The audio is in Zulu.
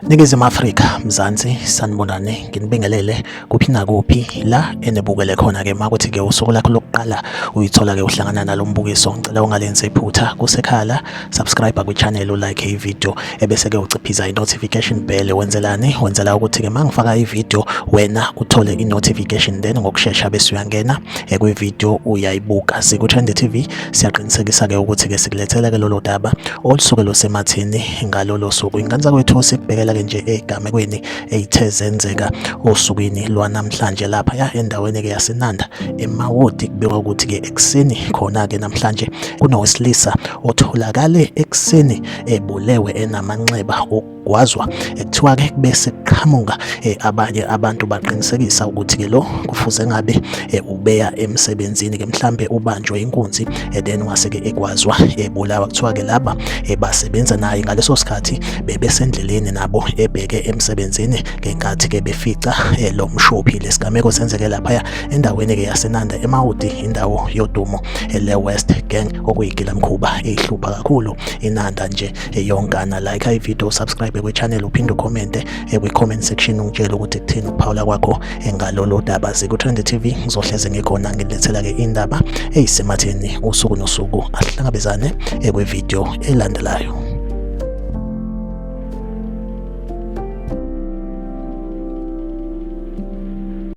Ningizimu Afrika, Mzansi, sanibonani, nginibingelele kuphi nakuphi la enibukele khona ke makuthi ke usuku lakho lokuqala uyithola ke uhlangana nalombukiso ngicela ungalenzi iphutha kusekhala subscribe kwichannel ulike ivideo ebese-ke uciphiza i-notification bell wenzelani wenzela ukuthi-ke uma ngifaka ivideo wena uthole i-notification then ngokushesha bese uyangena eh, kwivideo uyayibuka siku-trend tv siyaqinisekisa-ke ukuthi-ke sikulethela-ke lolo daba olusuke lusemathini ngalolo suku ingane zakwethu sikubhekela-ke nje egamekweni eyithe zenzeka osukwini lwanamhlanje lapha ya endaweni-ke yasenanda emawodi kubekwa ukuthi-ke Ekuseni khona-ke namhlanje kunowesilisa otholakale ekuseni ebulewe enamanxeba okugwazwa ekuthiwa-ke kube sekuqhamuka eh, abanye abantu baqinisekisa ukuthi-ke lo kufuze ngabe eh, ubeya emsebenzini-ke mhlambe ubanjwe inkunzi eh, then wase-ke egwazwa ebulawa kuthiwa-ke laba basebenza naye ngaleso sikhathi bebesendleleni nabo ebheke emsebenzini ngenkathi-ke befica lo mshophi lesigameko senzeke laphaya endaweni ke yasenanda emawudi indawo yodumo ele west gang okuyigila mkhuba eyihlupha kakhulu inanda nje eyonkana like ivideo subscribe kwichannel uphinde ucommente kwi-comment section ungitshele ukuthi kuthini ukuphawula kwakho engalolo daba ziku-trend tv ngizohleze ngikhona ngilethela-ke indaba eyisematheni usuku nosuku asihlangabezane kwivideo elandelayo